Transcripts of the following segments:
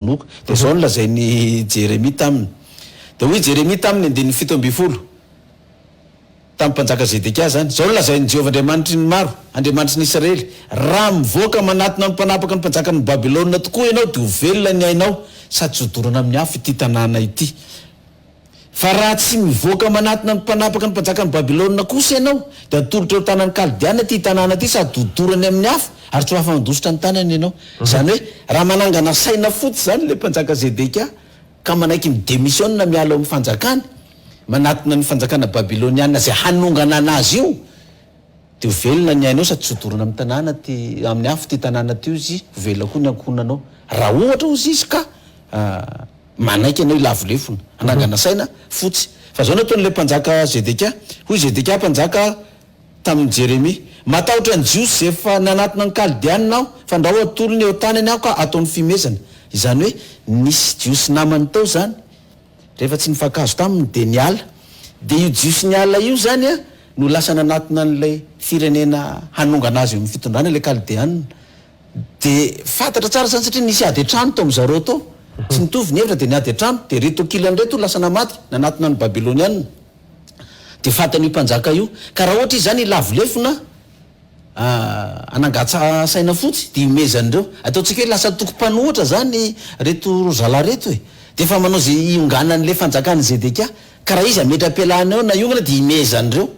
moka. Dia izao no lazain'i Jeremia taminy. Dia hoy Jeremia taminy, andininy fito ambin'ny folo, tamin'ny mpanjaka Zedekia izany, Izao no lazain'i Jehovah Andriamanitry ny maro, Andriamanitry ny Israely, Raha mivoaka manatona ny mpanapaka ny mpanjakan'i Babylona tokoa ianao, dia ho velona ny ainao, sady tsy ho dorana amin'ny afo ity tanàna ity. Fa raha tsy mivoaka manatona ny mpanapaka ny mpajakan'i Babylona kosa ianao, dia hatolotra eo an-tanan'ny Kaldeana ity tanàna ity sady hodorany amin'ny afo, ary tsy ho afa-handositra ny tanany ianao. Izany hoe, raha manangana saina fotsy izany ilay Mpanjaka Zedekia, ka manaiky mi-demissionina miala eo amin'ny fanjakany, manatona ny fanjakana babyloniana izay hanongana anazy io, Dia ho velona ny ainao sady tsy ho dorana amin'ny tanàna ty, amin'ny afo ity tanàna ty ozy, ho velona koa ny ankohonanao. Raha ohatra ozy izy ka manaiky anao hilavo lefona, hanangana saina fotsy. Fa izao no ataon'ilay mpanjaka Zedekia, Hoy Zedekia mpanjaka tamin'i Jeremia, Matahotra ny Jiosy izay efa nanatona ny Kaldeanina aho, fandrao hatolony eo an-tanany aho ka ataony fihomezana. Izany hoe, nisy Jiosy namany tao izany, Rehefa tsy nifankahazo taminy dia niala. Dia io Jiosy niala io izany no lasa nanatona an'ilay firenena hanongana azy eo amin'ny fitondrana, ilay Kaldeanina. Dia fantatra tsara izany satria nisy ady an-trano tao amin'i zareo tao. Tsy nitovy ny hevitra dia niady an-trano. Dia ireto ankilany ireto no lasa namaty, nanatona ny Babylonianina. Dia faty an'io mpanjaka io. Ka raha ohatra izy izany lavo lefona, hanangatsa saina fotsy de ihomezan'ireo. Ataontsika hoe lasa antoko mpanohitra zany reto zalahy reto e! de efa manao ze hionganan'le fanjakan'i Zedekia, ka raha izy hametra-pialana eo na hiongana de ihomezan'ireo.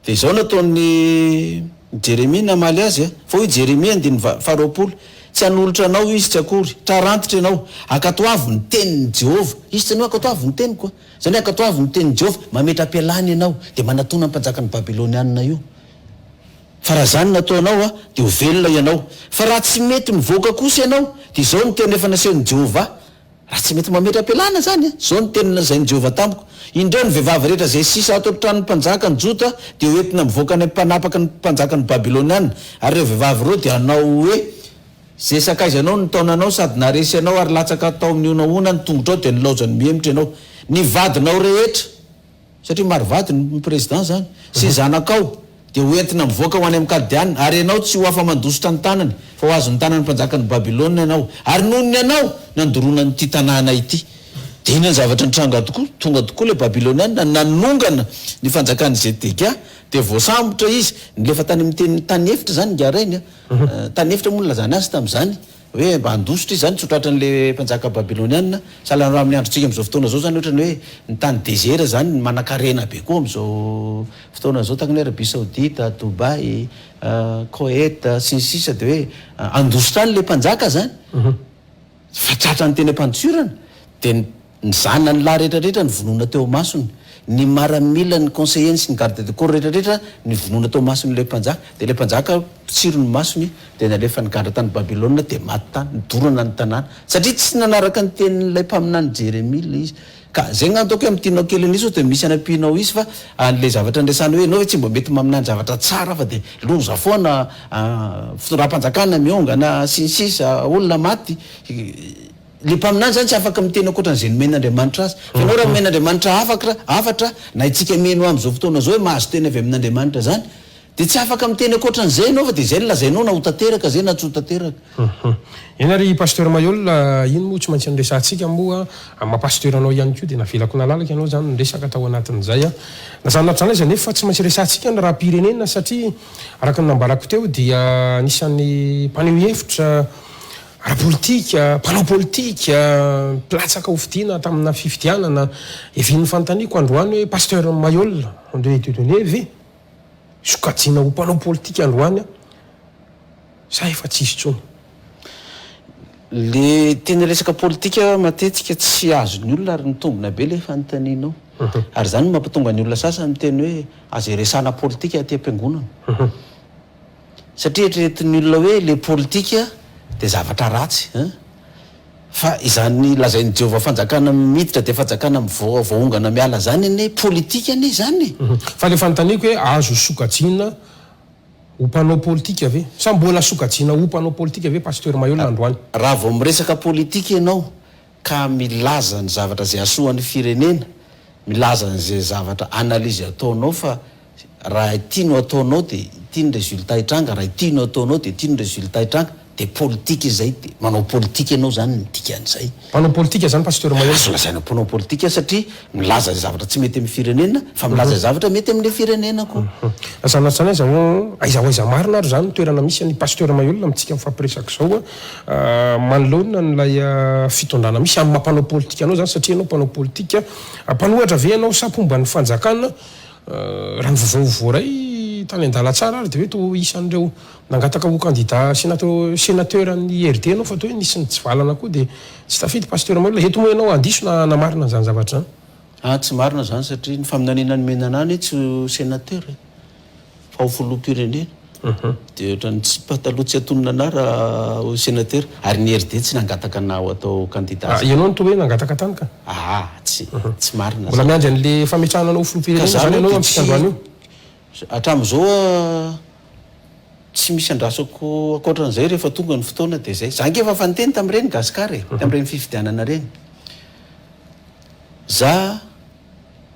De izao no ataon'i Jeremia namaly azy a, fa hoy i Jeremia, andininy va-, faharoapolo, Tsy hanolotra anao izy tsy akory, trarantitra ianao, ankatoavy ny tenin'i Jehovah. Izy tsy nanohy ankatoavy ny teniko a! Izany hoe ankatoavy ny tenin'i Jehovah, mametra-pialana ianao, de manatona ny mpanjakan'ny Babylonianina io. fa raha zany no ataonao a dia ho velona ianao, fa raha tsy mety mivoaka kosa ianao dia izao no teny efa nasehon'i Jehovah, raha tsy mety mametra-pialana zany a, izao no teny nolazain'i Jehovah tamiko, indreo ny vehivavy rehetra izay sisa ato an-tranon'ny mpanjakan'i Jota dia ho entina mivoaka any am-panapaka ny mpanjakan'ny Babyloniana, ary ireo vehivavy ireo dia hanao hoe, Izay sakaiza anao no nitaona anao sady naharesy anao ary latsaka tao amin'ny honahona ny tongotrao dia nilaozan'ny mihemotra ianao, ny vadinao rehetra. satria maro vady ny président zany sy zanakao dia ho entina mivoaka ho any amin'ny Kaldeana, ary ianao tsy ho afa-mandositra ny tanany fa ho azon'ny tanan'ny mpanjakan'i Babylona ianao, ary noho ny anao nandoroana an'ity tanàna ity. Dia iny ny zavatra nitranga tokoa, tonga tokoa ilay Babyloniana nanongana ny fanjakan'i Zedekia, dia voasambotra izy, nilefa tany amin'ny tany efitra izany ingahy Rainy a, tany efitra moa no nilazany azy tamin'izany, Hoe mba handositra izy izany tsy ho tratran'ilay mpanjaka babylonianina. Sahala raha amin'ny androntsika amin'izao fotoana izao izany, ohatran'ny hoe ny tany dezera izany manankarena be koa amin'izao fotoana izao, tahaka ny hoe Arabia Saodita, Dubai, Koet, sy ny sisa dia hoe handositra any ilay mpanjaka izany fa tratran'ny teny am-pandosiorana dia ny Ny zanany lahy rehetra rehetra nivonoina teo imasony, ny maramila, ny conseillers-ny sy ny garde de corps rehetra rehetra nivonoina teo imason'ilay mpanjaka. Dia ilay mpanjaka mpitsiry ny masony, dia nalefan'ny gadra tany Babylona, dia maty tany. Nodorana ny tanàna, satria tsy nanaraka ny tenin'ilay mpaminany Jeremia ilay izy. Ka izay angamba ataoko hoe amin'ny tianao kely an'isa sao dia misy anampianao hisy, fa an'ilay zavatra niresahana hoe ianao ve tsy mba mety maminany zavatra tsara fa dia loza foana, fitondram-panjakana miongana, sy ny sisa, olona maty. Le mpaminany zany tsy afaka miteny ankoatra an'izay nomen' Andriamanitra azy. Fa ianao raha nomen' Andriamanitra hafakra, hafatra, na itsika mino am'izao fotoana zao hoe mahazo teny avy amin' Andriamanitra zany, de tsy afaka miteny ankoatra an'izay ianao fa de izay no lazainao na ho tanteraka zay na tsy ho tanteraka. Hum. Eny ary Pasteur Mailhol a, iny moa tsy maintsy niresahantsika moa amin'ny maha Pasteur anao ihany koa dia navelako nalalaka ianao izany niresaka tao anatin'izay a. Na zany na tsy zany aza nefa tsy maintsy resahantsika ny raham-pirenena satria araka ny nambarako teo dia anisan'ny mpaneho hevitra ara-politika, mpanao politika, mpilatsaka hofidiana tamina fifidianana, evi ny fanontaniako androany hoe Pasteur Maihol André Dieudonné ve sokajiana ho mpanao politika androany an? sa efa tsy izy intsony? Le teny resaka politika matetika tsy azon'ny olona ary mitombina be le fanontanianao. Ary zany no mampatonga ny olona sasany miteny hoe aza iresahana politika aty am-piangonana. satria eritreretin'ny olona hoe le politika dia zavatra ratsy eh! fa izany lazain'i Jehovah fanjakana miditra dia fanjakana mivoa voaongana miala izany anie politika anie izany eh! Fa le fanontaniako hoe azo sokajiana ho mpanao politika ve? Sa mbola sokajiana ho mpanao politika ve Pasteur Maheulona androany? Raha vao miresaka politika ianao ka milaza ny zavatra izay hasoa ny firenena, milaza an'izay zavatra analyse ataonao fa raha ity no ataonao dia ity ny résultat hitranga, raha ity no ataonao dia ity ny résultat hitranga, dia politika izay, dia manao politika ianao izany ny dikan'izay. Mpanao politika izany Pasteur Mahery? Azo lazaina mpanao politika satria Milaza izay zavatra tsy mety amin'ny firenena fa milaza izay zavatra mety amin'ilay firenena koa. Sanatria aiza ho aiza ho aiza marina ary izany no toerana misy an'i Pasteur Mailhol amintsika mifampiresaka izao manoloana an'ilay fitondrana misy amin'ny maha mpanao politika anao izany satria ianao mpanao politika mpanohatra ve ianao sa mpomba ny fanjakana raha ny vaovao voaray tany an-dalantsara ary dia hoe toa isan'ireo Nangataka ho kandida senatr senateur an'ny RD ianao fa toa hoe nisy nitsivalana koa dia tsy tafidy Pasteur Mahelola. Eto moa ianao handiso na hanamarina an'izany zavatra izany? Ah, tsy marina izany satria ny faminaniana nomena an'ahy anie tsy ho senateur e, fa ho filoham-pirenena. Dia ohatran'ny tsy pataloha tsy atonona an'ahy raha ho senateur. Ary ny RD tsy nangataka an'ahy ho atao kandida Ah, ianao no toa hoe nangataka tany ka? Ah, tsy, tsy marina izany. Mbola miandry an'ilay fametrahana anao ho filoham-pirenena izany ianao amintsika androany io? Hatramin'izao aho tsy misy andrasako ankoatran'izay rehefa tonga ny fotoana dia izay. Za ange efa niteny tamin'ireny Gascar e, tamin'ireny fifidianana ireny. Za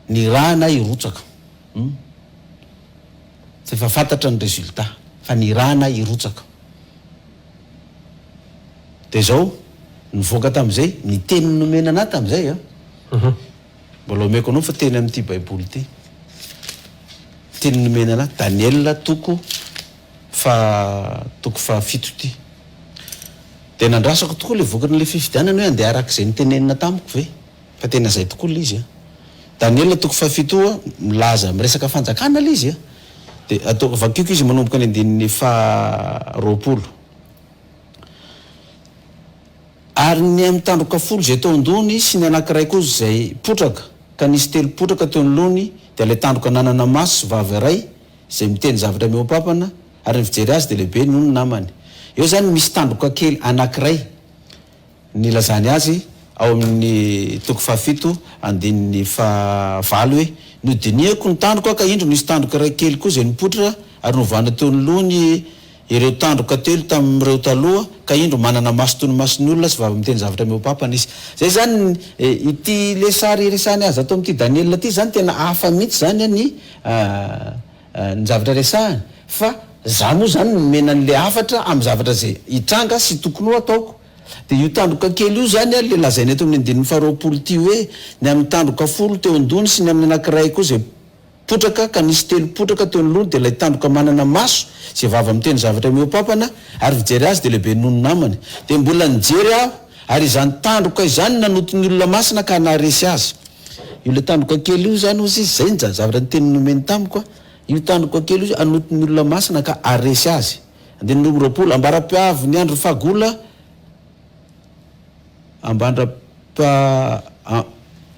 ny ra anah hirotsaka hum fa efa fantatra ny résultat fa ny ra anah hirotsaka. Dia izao nivoaka tamin'izay ny teny nomena anah tamin'izay an. Mbola omeko anao fa teny amin'ity baiboly ity teny nomena anahy Daniela toko faha toko faha fito ity dia nandrasako tokoa ilay vokatr'ilay fifidianana hoe handeha araka izay notenenina tamiko ve fa tena izay tokoa ilay izy a Daniela toko faha fito a milaza miresaka fanjakana ilay izy a dia atao vakiako izy manomboka ny andininy faha roapolo Ary ny amin'ny tandroka folo izay teo an-dohany sy ny anankiray kosa izay potraka, ka nisy telo potraka teo ny lohany, dia ilay tandroka nanana maso sy vava iray, izay miteny zavatra mihoapampana, ary ny fijery azy dia lehibe noho ny namany. Eo izany misy tandroka kely anankiray nilazany azy ao amin'ny toko fahafito andininy fahavalo hoe, Nodinihako ny tandroka ka indro nisy tandroka iray kely koa izay nipoitra ary novana teo ny lohany, ireo tandroka telo tamin'ireo taloha ka indro manana maso toy ny mason'ny olona sy vava miteny zavatra mihoapapana izy. Izay izany ity ilay sary iresahan'i Aza ato amin'ity Daniela ity izany tena hafa mihitsy izany ny ny zavatra resahany fa za moa izany nomena an'ilay hafatra amin'ny zavatra izay hitranga sy tokony ho ataoko dia io tandroka kely io izany ilay lazaina eto amin'ny andininy faharoapolo ity hoe ny amin'ny tandroka folo teo an-dohany sy ny amin'ny anankiray koa izay Potraka, ka nisy telo potraka teo anoloany, dia ilay tandroka manana maso, izay vava miteny zavatra mihoa-pampana, ary fijery azy dia lehibe noho ny namany. Dia mbola nijery aho, ary izany tandroka izany no nanonto ny olona masina ka naharesy azy. Io ilay tandroka kely io izany, hozy izy, izay ny zavatra ny teniny nomeny tamiko, Io tandroka kely io hanonto ny olona masina ka haharesy azy. Andininy roa amby roapolo, Ambara-piavin'ny andron'ny fahagola.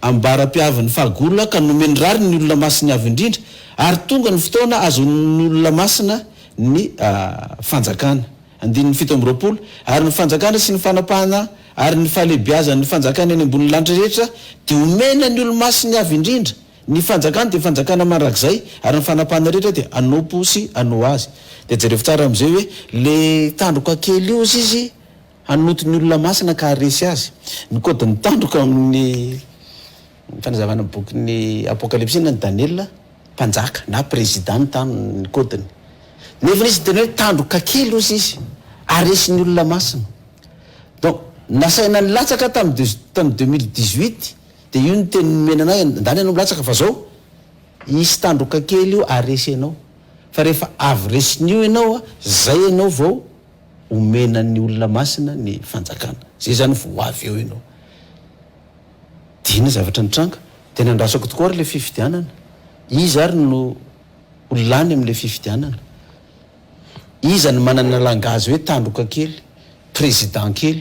Ambara-piavin'ny fahagola ka nomeny rariny ny olona masiny avo indrindra ary tonga ny fotoana ahazoan'ny olona masina ny fanjakana. Andininy fito amby roapolo, Ary ny fanjakana sy ny fanapahana ary ny fahalehibiazan'ny fanjakana eny ambonin'ny lanitra rehetra dia omena ny olo-masiny avo indrindra. Ny fanjakana dia fanjakana mandrakizay ary ny fanapahana rehetra dia anompo sy anao azy. Dia jerevo tsara amin'izay hoe le tandroka kely io hozy izy Hanonto ny olona masina ka haharesy azy. Ny kaodin'ny tandroka ao amin'ny fanazavana bokin'ny Apokalypsy na Daniela, mpanjaka na prezida ny tany ny kaodiny. Nefa izy tena hoe tandroka kely hozy izy, haharesy ny olona masina. Donc nasaina nilatsaka tamin'ny deux tamin'ny deux mille dix huit dia io ny teny nomena anay, andany ianao milatsaka fa zao hisy tandroka kely io haharesy anao, fa rehefa avy resin'io ianao zay ianao vao omena ny olona masina ny fanjakana zay zany vao ho avy eo ianao dina zavatra nitranga dia nandrasako tokoa ary ilay fifidianana iza ary no ho lany amin'ilay fifidianana iza ny manana langazy hoe tandroka kely président kely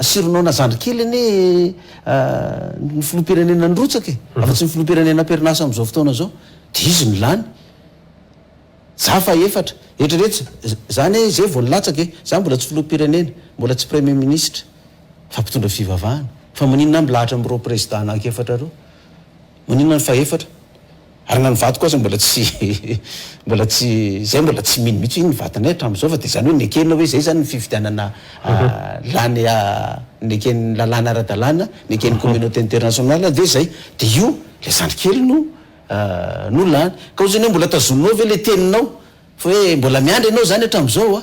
Sy ronono zandry kely anie ny filoham-pirenena nirotsaka e! Raha tsy ny filoham-pirenena am-perinasa amin'izao fotoana izao dia izy no lany. Za fahefatra. Eritrereto za anie izay vao nilatsaka e! Za mbola tsy filoham-pirenena, mbola tsy premier ministre fa mpitondra fivavahana. Fa maninona aho milahatra amin'ireo président anankiefatra ireo? Maninona ny fahefatra? Ary na ny vadiko aza mbola tsy mbola tsy zay mbola tsy mino mihitsy iny ny vatanay hatramin'izao fa dia izany hoe nekena hoe izay izany ny fifidianana lany neken'ny lalàna ara-dalàna neken'ny communauté internationale dia izay dia io ilay zandry kely no no lany ka ohatrany hoe mbola tazoninao ve ilay teninao fa hoe mbola miandry ianao izany hatramin'izao a!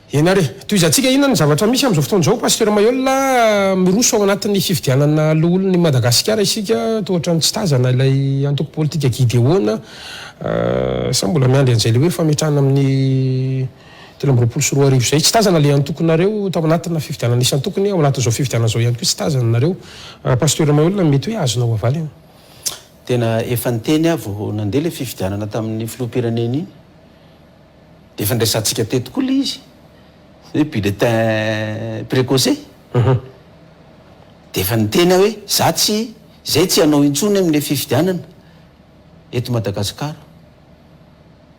Ena re. Tohizantsika inona ny zavatra misy amin'izao fotoana izao Pasteur Maheul a! Miroso ao anatin'ny fifidianana loholon'i Madagasikara isika toa ohatran'ny tsy tazana ilay antoko politika Gideona a! Sa mbola miandry an'izay le hoe fametrahana amin'ny telo amby roapolo sy roa arivo izay? Tsy tazana le antokonareo tao anatina fifidianana isan-tokony, ao anatin'izao fifidianana izao ihany koa tsy tazana nareo. Pasteur Maheul mety hoe azonao havaly an! Tena efa niteny aho vao nandeha ilay fifidianana tamin'ny filoham-pirenena iny Efa niresahantsika teto koa ilay izy hoe bulletin precoce dia efa niteny aho hoe za tsy izay tsy hanao intsony amin'ilay fifidianana eto Madagascar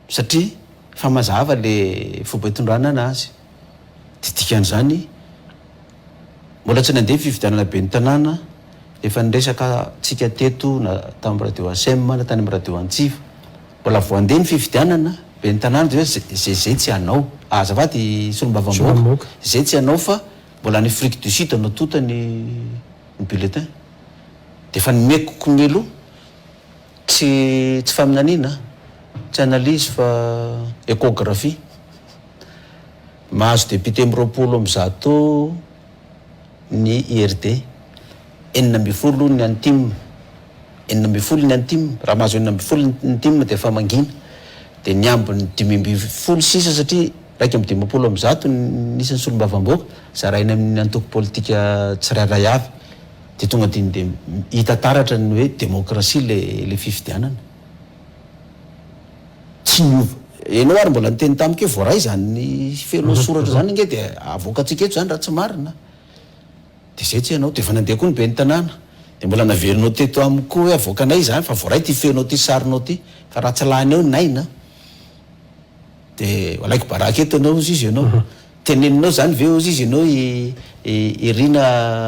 satria efa mazava ilay fomba itondranana azy dia dikan'izany Mbola tsy nandeha fifidianana ben'ny tanàna, efa niresaka tsika teto na tamin'ny radio Asem na tany amin'ny radio Antsiva. Mbola vao handeha ny fifidianana ben'ny tanàna dia hoe ze ze tsy hanao. Azafady solombavambahoaka, ze tsy hanao fa mbola any Afrique du Sud no tonta ny ny bulletin. Dia efa nomeko konelo, tsy tsy faminaniana, tsy analyse fa échographie. Mahazo depiote am roapolo amby zato ny IRD. Enina ambin'ny folo ny an'ny tim. Enina ambin'ny folo ny an'ny tim. Raha mahazo enina ambin'ny folo ny tim dia efa mangina. Dia ny ambiny dimy ambin'ny folo sisa satria iraika amby dimampolo amby zato ny isan'ny solombavambaoaka zaraina amin'ny antoko politika tsirairay avy. Dia tonga dia hita taratra ny hoe demokrasia ilay ilay fifidianana. tsy niova. Enao ary mbola niteny tamiko hoe voaray izany felo soratra izany ange dia avoakantsika eto izany raha tsy marina dia izay tsy enao dia efa nandeha koa ny ben'ny tanàna dia mbola naverinao teto amiko koa hoe avoakanay izany fa voaray ity feonao ity sarinao ity fa raha tsy lany eo ny aina De alaiko baraka eto ianao hozy izy ianao. Teneninao zany ve hozy izy ianao i i Rina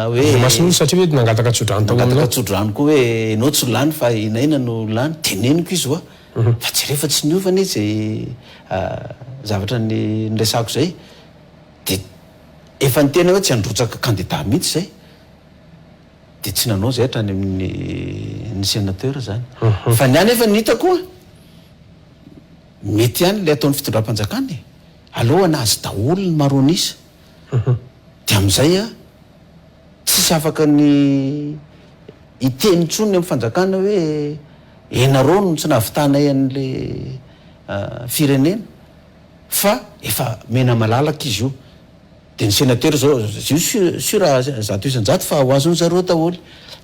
hoe. Andriamason'Olo satria hoe nangataka tsodrano tao aminao. Nangataka tsodrano koa hoe ianao tsy lany fa i Naina no lany. Teneniko izy hoa fa jereo fa tsy niova anie ze zavatra ny niresahako zay. De efa niteny aho hoe tsy handrotsaka kandida mihitsy zay. De tsy nanao zay hatrany amin'ny ny senateur zany. Fa ny ahy nefa ny hitako a. Mety ihany ilay ataon'ny fitondram-panjakana e! Aleo hanazy daholo ny maronisa dia amin'izay an, tsisy afaka ny hiteny intsony ny amin'ny fanjakana hoe ianareo no tsy nahavitanay an'ilay firenena fa efa mena malalaka izy io dia ny senatera izao zio sur zato isan-jato fa ho azon'ny zareo daholo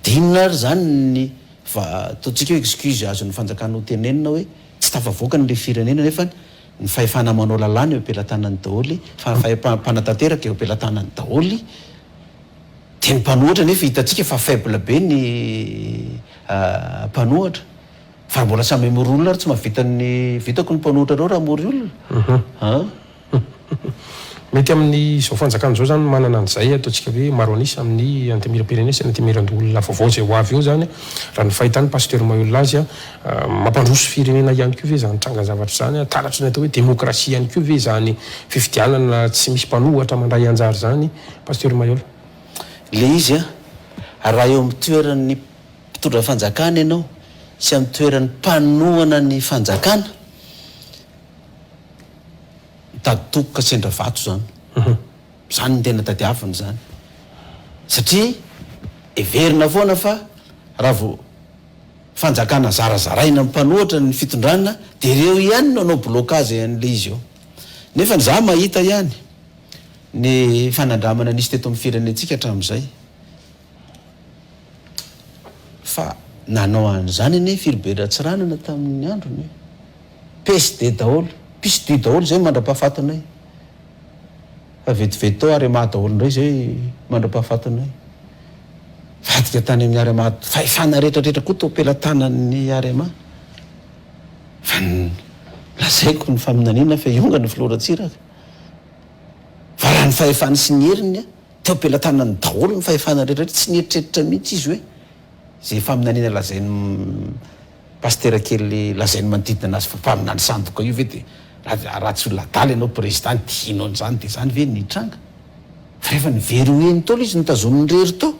dia inona ary izany ny fa ataontsika hoe excuse azon'ny fanjakana hotenenina hoe Tsy tafavoaka ny le firenena nefa ny fahefana manao lalàna eo am-pelatanany daholo fa ny fahefam-panatanteraka eo am-pelatanany daholo dia ny mpanohitra nefa hitantsika fa faible be ny mpanohitra fa raha mbola samy hamory olona ary tsy mahavita ny vitako ny mpanohitra reo raha hamory olona an! Mety amin' izao fanjakana izao izany ny manana an' izay ataontsika hoe maro anisa amin' ny antemieram-pirenena sy ny antemieran-doholona vaovao izay ho avy eo izany, raha ny fahitany Pasteur Maheul azy. Mampandroso firenena ihany koa ve izany trangan-javatra izany? Taratry ny atao hoe demokrasia ihany koa ve izany fifidianana tsy misy mpanohatra mandray anjara izany Pasteur Maheul? Ilay izy an, raha eo amin'ny toeran' ny mpitondra fanjakana ianao sy amin'ny toeran'ny mpanohana ny fanjakana Mitady toky ka sendra vato izany. Izany no tena tadiaviny izany. Satria heverina foana fa raha vao fanjakana zarazaraina ny mpanohatra ny fitondrana dia ireo ihany no hanao blocage an'ilay izy eo. Nefa ny za mahita ihany ny fanandramana nisy teto amin'ny firenentsika hatramin'izay. Fa nanao an'izany anie firy be Ratsiranana tamin'ny androny e! PSD daholo, psdu daholo izay mandra-pahafatinay. Fa vetivety tao Arema daholo indray izay mandra-pahafatinay. Vadika tany amin'ny Arema, fahefana retraretra koa tao pelatanan'ny Arema. Fa lazaiko ny faminaniana fa hiongana filoha Ratsiraka. Fa raha ny fahefany sy ny heriny a! Teo am-pelatanany daholo ny fahefana rehetra rehetra, tsy nieritreritra mihitsy izy hoe izay faminaniana lazain'i Pasitera kely lazainy manodidina anazy fa mpaminany sandoka io ve dia raha raha tsy olona adala ianao Prezida ny dihinao an'izany dia izany ve no hitranga? Fa rehefa nivery ho eny Ntaolo izy notazoniny irery tao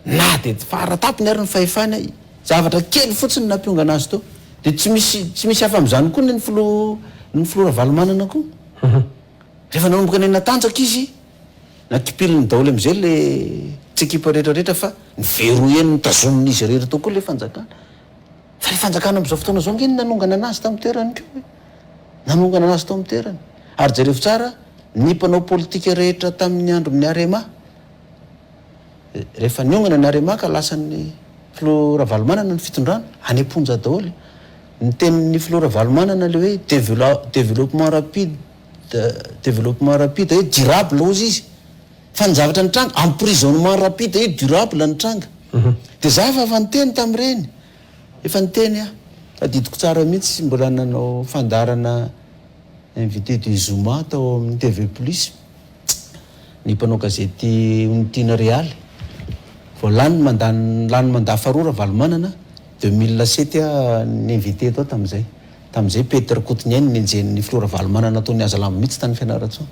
na dia fara tapony ary ny fahefany zavatra kely fotsiny no nampiongana azy tao dia tsy misy tsy misy hafa amin'izany koa ny ny Filoha ny Filoha Ravalomanana koa Rehefa nanomboka nanatanjaka izy, natipiliny daholo amin'izay ilay tsy ekipa rehetra rehetra fa niveroheny notazomin'izy irery teo koa ilay fanjakana. Fa ilay fanjakana amin'izao fotoana izao ange no nanongana anazy tamin'ny toerany koa e! Nanongana anazy tao amin'ny toerany. Ary jereo tsara ny mpanao politika rehetra tamin'ny andron'ny Arema. Rehefa niongana ny Arema ka lasan'ny filoha Ravalomanana ny fitondrana, any am-ponja daholo. Ny tenin'ny filoha Ravalomanana ilay hoe develop-developpement rapide, developpement rapide hoe durable hozy izy. Fa ny zavatra nitranga, emprisonnement rapide hoe durable nitranga. Dia izaho efa efa niteny tamin'ireny. Efa niteny aho. Tadidiko tsara mihitsy, mbola nanao fandaharana invité du Zoma tao amin'ny TV Plus. ny mpanao gazety Onitiana Realy, vao lany ny mandat lany mandat faharoa Ravalomanana, deux mille sept aho ni-inviter tao tamin'izay. Tamin'izay Pety Rakotoniaina no nenjehin'ny filoha Ravalomanana tao nihaza lamba mihitsy tany Fianarantsoa.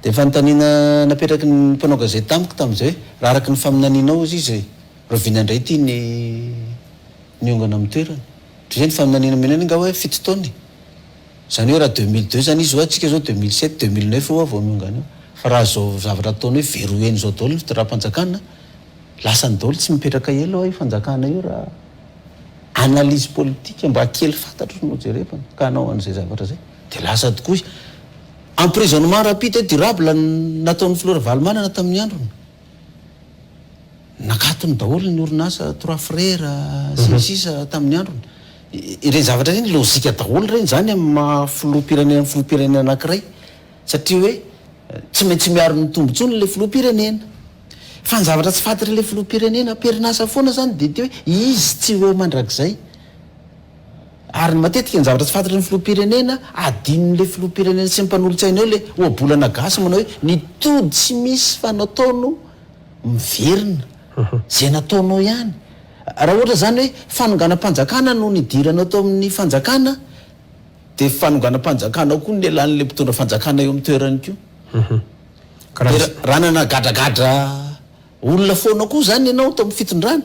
Dia fanontaniana napetraky ny mpanao gazety tamiko tamin'izay hoe, raha araka ny faminanianao ozy izy rahoviana indray ity ny niongana amin'ny toerany? Toy izay ny faminaniana omena anay angaha hoe fito taona e! Izany hoe raha deux mille deux izany izy oa tsika izao deux mille sept, deux mille neuf oa vao niongana eo. Fa raha izao zavatra ataony hoe verrouiller an'izao daholo ny fitondram-panjakana, lasany daholo tsy mipetraka ela io fanjakana io raha analyse politique mba kely fantatro no jerevana ka hanao an'izay zavatra izay dia lasa tokoa. Emprisonnement rapide et durable no nataon'ny filoha Ravalomanana tamin'ny androny. Nakatony daholo ny orinasa Trois Frères sy ny sisa tamin'ny androny. Ireny zavatra ireny lojika daholo ireny. Izany amin'ny maha filoham-pirenena filoham-pirenena anankiray satria hoe tsy maintsy miaro ny tombon-tsony ilay filoham-pirenena. Fa ny zavatra tsy fantatr'ilay filoham-pirenena am-perinasa foana izany dia ity hoe izy tsy ho eo mandrakizay. Ary ny matetika ny zavatra tsy fantatry ny filoham-pirenena adinon'ilay filoham-pirenena sy ny mpanolotsainy eo ilay ohabolana gasy manao hoe ny tody tsy misy fanataono miverina izay nataonao ihany. Raha ohatra izany hoe fanonganam-panjakana no nidiranao tao amin'ny fanjakana dia fanonganam-panjakana koa ny lelan'ilay mpitondra fanjakana eo amin'ny toerany koa. Dia raha nanagadragadra olona foana koa izany ianao tao amin'ny fitondrana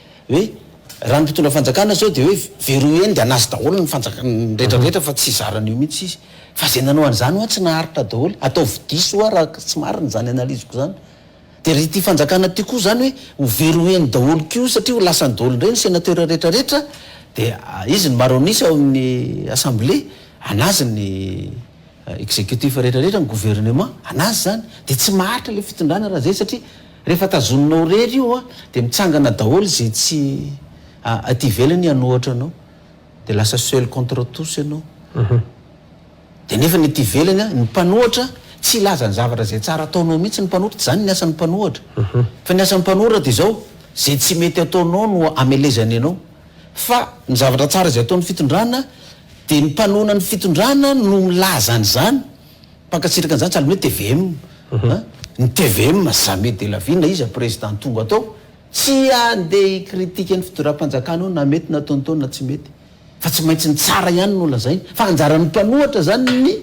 Hoe raha ny mpitondra fanjakana zao dia hoe veroy eny dia anazy daholo ny fanjakana ny rehetra rehetra fa tsy zarany eo mihitsy izy. Fa izay nanao an'izany hoa tsy naharitra daholo. Ataovy diso hoa raha tsy marina izany analyse-ko izany. Dia ry ity fanjakana ity koa izany hoe ho veroy eny daholo koa satria ho lasany daholo indray ny sénateur rehetra rehetra dia izy no maro an'isa ao amin'ny assemblée anazy ny executif rehetra rehetra ny gouvernement anazy izany. Dia tsy maharitra ilay fitondrana raha izay satria Rehefa tazoninao rery io an dia mitsangana daholo izay tsy aty ivelany hanohatra anao dia lasa seul contre tous ianao dia nefa ny aty ivelany an ny mpanohatra tsy hilaza ny zavatra izay tsara ataonao mihitsy ny mpanohtra tsy izany ny asan'ny mpanohatra fa ny asan'ny mpanohatra dia izao izay tsy mety ataonao no amelezany anao fa ny zavatra tsara izay ataon'ny fitondrana dia ny mpanona ny fitondrana no milaza an'izany Mpankasitraka an'izany tsy hanome tvm a! Ny tvm jamais de la vie na iza président tonga tao tsy handeha hi-critique ny fidiram-panjakana eo na mety nataony tao na tsy mety fa tsy maintsy ny tsara ihany no lazainy fa anjaran'ny mpanohatra zany ny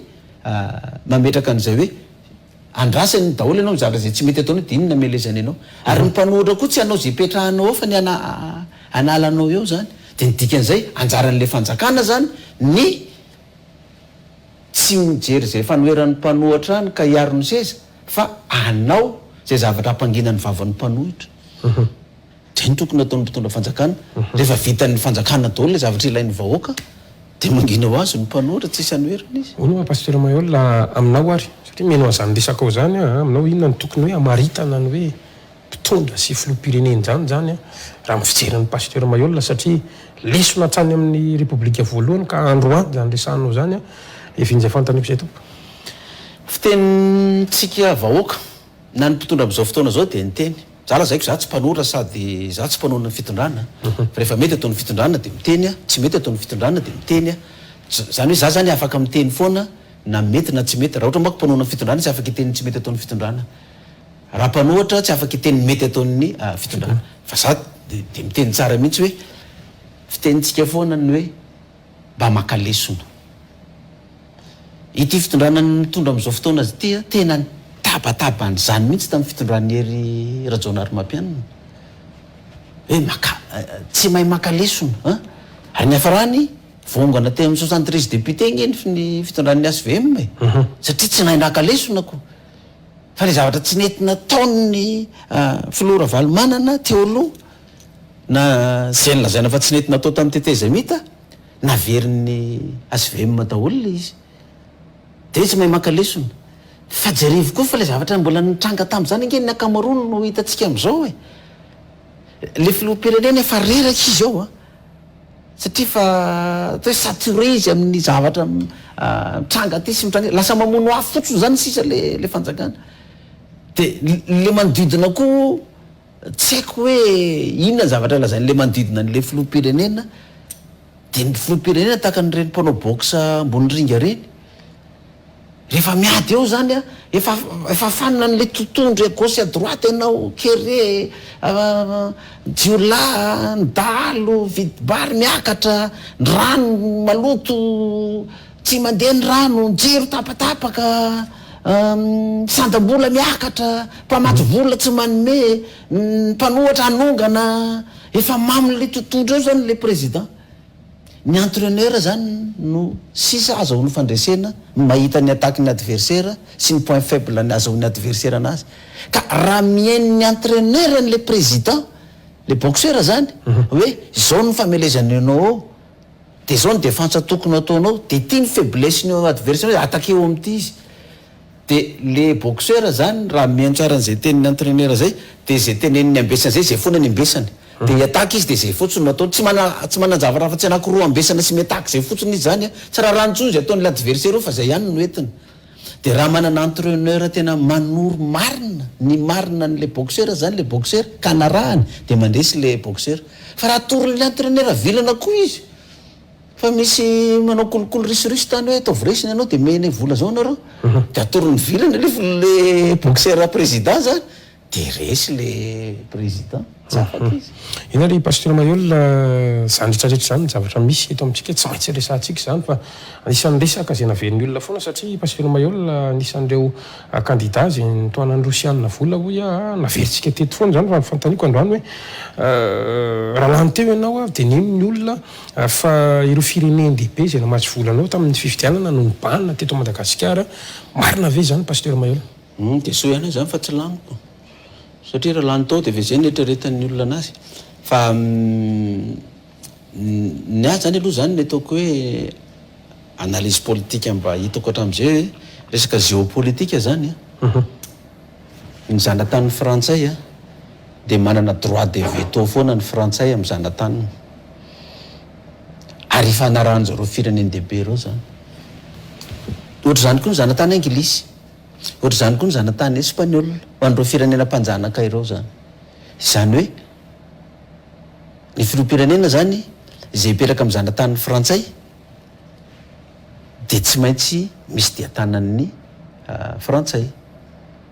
mametraka an'izay hoe andrasany daholo ianao mizara izay tsy mety ataonao dia iny no amelezany anao ary ny mpanohatra koa tsy hanao izay hipetrahanao eo fa ny hanala anao eo zany dia ny dikan'izay anjaran'ilay fanjakana zany ny Tsy ny mijery izay fanoheran'ny mpanohatra any ka hiaro ny seza fa hanao izay zavatra hampangina ny vavan'ny mpanohitra. Izay no tokony hataon'ny mpitondra fanjakana. Rehefa vitan'ny fanjakana daholo ilay zavatra ilain'ny vahoaka dia mangina ho azy ny mpanohatra, tsisy hanoherana izy. Mino aho Pasteur Maheul aminao ary, satria mino an'izany resakao izany aho, aminao inona no tokony hoe hamaritana ny hoe. mpitondra sy filoham-pirenen'izany izany raha ny fijery an'i Pasteur Mayolle satria lesona hatrany amin'ny Repoblika voalohany ka androany izany resahanao izany an! Efa injay fantaniko izay tompoko. Fitenintsika vahoaka na ny mpitondra amin'izao fotoana izao dia ny teny. Za lazaiko za tsy mpanora sady za tsy mpanao ny fitondrana fa rehefa mety ataon'ny fitondrana dia miteny aho, tsy mety ataon'ny fitondrana dia miteny aho. Izany hoe za zany afaka miteny foana na mety na tsy mety. Raha ohatra manko mpanao ny fitondrana izy afaka hiteny ny tsy mety ataon'ny fitondrana. Raha mpanohatra tsy afaka hiteny ny mety ataon'ny fitondrana fa za dia miteny tsara mihitsy hoe fitenintsika foana ny hoe mba maka lesona. Ity fitondrana mitondra amin'izao fotoana ity tena nitabataba an'izany mihitsy tamin'ny fitondran'i Hery Rajaonarimampianina hoe maka tsy mahay maka lesona an! Ary niafarany voaongana teo amin'ny soixante treize députés ange ny fitondran'ny HVM e! Satria tsy nahay naka lesona ko! Fa ilay zavatra tsy nety nataon'ny filoha Ravalomanana teo aloha, na izay nolazaina fa tsy nety natao tamin'ny tetezamita, naverin'ny HVM daholo ilay izy. Dia hoe tsy mahay maka lesona. Fa jerevy koa fa ilay zavatra mbola nitranga tamin'izany ange ny ankamaroany no hitantsika amin'izao e. Ilay filoham-pirenena efa reraka izy ao a. satria efa atao hoe saturé izy amin'ny zavatra mitranga aty sy mitranga lasa mamono afo fotsiny zany sisa le le fanjakana de le manodidina koa tsy haiko hoe inona zavatra lazainy le manodidina an'le filoham-pirenena de ny filoham-pirenena tahaka an'ireny mpanao boxe ambony ringa reny Rehefa miady eo zany a, efa efa fanina an'le totohondry à gauche à droite ianao, kere a, jiolahy a, ny dahalo vidim-bary miakatra, ny rano maloto, tsy mandeha ny rano, ny jiro tapatapaka, sandam-bola miakatra, mpamatsy vola tsy manome, ny mpanohatra hanongana, efa mamin'le totohondry eo zany le président. Ny entraineur zany no sisa azahoany fandresena ny mahita ny attaque ny adversaire sy ny point faible ny azahoany adversaire anazy ka raha mihaino ny entraineur anle président le boxeur zany hoe zao ny famelezana enao ao de zao ny defense tokony ataonao de ty ny faiblesse ny adversaire attaquer ao amty izy De le boxeur zany raha mihaino tsara an'izay tenin'ny entraineur zay de izay teneniny ambesana zay zay foana ny ambesany de hiataky izy de zay fotsiny no ataony tsy mana tsy manan-javatra afa-tsy anakiroa ambesana sy miataky zay fotsiny izy zany a tsy rarany intsony izay ataon'ilay adversaire eo fa zay ihany no entiny de raha manana entraineur tena manoro marina ny marina an'ilay boxeur zany le boxeur ka anarahany de mandresy le boxeur fa raha atoron'ilay entraineur vilana koa izy Fa misy manao kolikoly risoriso tany hoe ataovy resy ny anao dia mene vola zao nareo dia atorony vilany aloha vola le boxer président zany dia resy le président tsy afaka izy. Inona ry Pasteur Maheul izany rehetra rehetra izany zavatra misy eto amintsika tsy maintsy resahantsika izany fa anisan'ny resaka izay navelin'ny olona foana satria Pasteur Maheul anisan'ireo kandida izay nitohanan'ny rosianina vola hoy aho naverintsika teto foana izany fa ny fanontaniako androany hoe raha lany teo ianao ary dia nino ny olona ary fa ireo firenen-dehibe izay namatsy vola anao tamin'ny fifidianana no nibahana teto Madagasikara, marina ve izany Pasteur Maheula? Humm dia soa ihany aho izany fa tsy laniko satria raha lany tao dia efa izay no eritreretan'ny olona anazy fa ny ahy izany aloha izany ny ataoko hoe analyse politique mba hitako hatramin'izay hoe resaka géopolitique izany an! Ny zanataniny frantsay a, dia manana droit de veto foana ny frantsay amin'ny zanataniny. Ary ifanarahan'ny zareo firenendehibe ireo izany. Ohatr'izany koa ny zanatany anglisy, ohatr'izany koa ny zanatany espaniola, ho an'ireo firenena mpanjanaka ireo izany. Izany hoe, ny filoham-pirenena izany izay hipetraka amin'ny zanataniny frantsay, dia tsy maintsy misy dia tanan'ny frantsay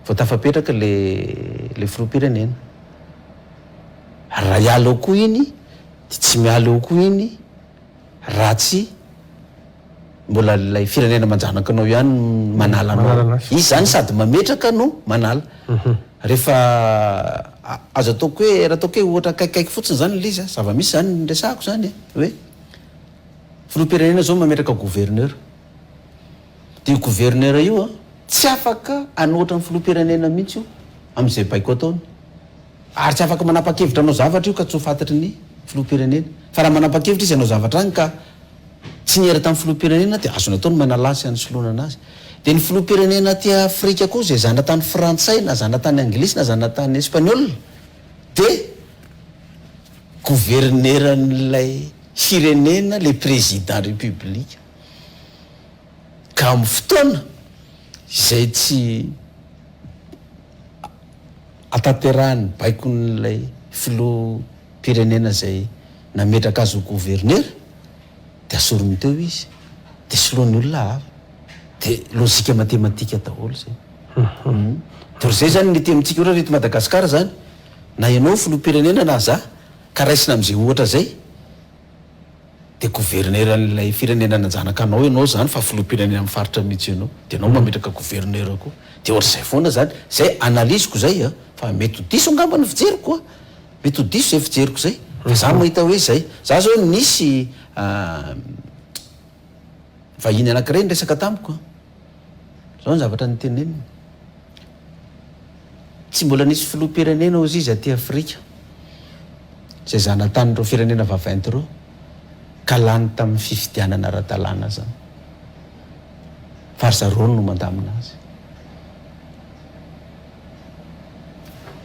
vao tafapetraka ilay filoham-pirenena. Ary raha hiala eo koa iny dia tsy miala eo koa iny raha tsy mbola ilay firenena manjanakanao ihany no manala anao. Manala anao. Izy izany sady mametraka no manala. Rehefa azo ataoko hoe, raha ataoko hoe ohatra akaikikaiky fotsiny izany ilay izy a, zava-misy izany no resahako izany e, hoe. Filoham-pirenena zao mametraka gouverneur. Dia io gouverneur io an, tsy afaka hanohitra ny filoham-pirenena mihitsy io amin'izay baiko ataony. Ary tsy afaka manapa-kevitra hanao zavatra io ka tsy ho fantatry ny filoham-pirenena. Fa raha manapa-kevitra izy hanao zavatra any ka tsy niera tamin'ny filoham-pirenena dia azony atao ny manalà sy hanisoloana anazy. Dia ny filoham-pirenena aty Afrika koa izay zanatany frantsay na zanatany anglisy na zanatany espaniola dia gouverneran'ilay Firenena le président république ka am fotoana izay tsy atanterahany baikon'ilay filoha pirenena izay nametraka azy ho gouvernera dia asoriny teo izy dia soloany olona hafa dia logique matematika daholo zay dia ry zay zany mety amintsika ohatra ry eto Madagascar zany na ianao filoha pirenena na za Ka raisina amin'izay ohatra izay dia governeran'ilay firenena nanjanaka anao ianao zany fa filoham-pirenena amin'ny faritra mihitsy ianao dia ianao mametraka gouverneur koa dia ohatr'izay foana zany izay analyse-ko izay an! fa mety ho diso angamba ny fijeriko an! mety ho diso izay fijeriko izay fa za mahita hoe izay za zao nisy Vahiny anankiray niresaka tamiko an. Zao ny zavatra niteneniny. Tsy mbola nisy filoham-pirenena hozy izy aty Afrika izay zanatan'ireo firenena vaventy ireo ka lany tamin'ny fifidianana ara-dalàna zany. Fa ry zareo no mandamina azy.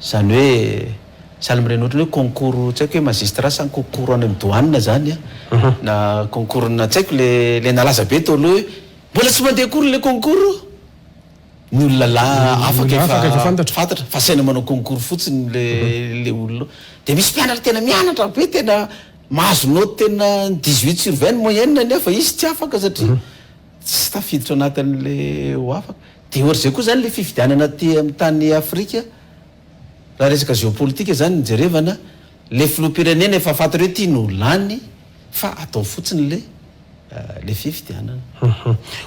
Izany hoe sahala amin'ireny ohatran'ny hoe concours tsy haiko hoe magistrat sa concours any amin'ny douane izany na concours-na tsy haiko le le nalaza be teo aloha hoe mbola tsy mandeha akory ilay concours ny olona la afaka efa efa fantatra fantatra fa asaina manao concours fotsiny le le olona dia misy mpianatra tena mianatra be tena mahazo note tena dix huit sur vingt ny moyenne-ny anefa izy tsy afaka satria Tsy tafiditra anatin'ilay ho afaka. Dia ohatr'izay koa izany ilay fifidianana aty amin'ny tany Afrika, raha resaka géopolitique izany no jerevana, ilay filoham-pirenena efa fantatrao hoe ity no lany fa atao fotsiny ilay ilay fifidianana.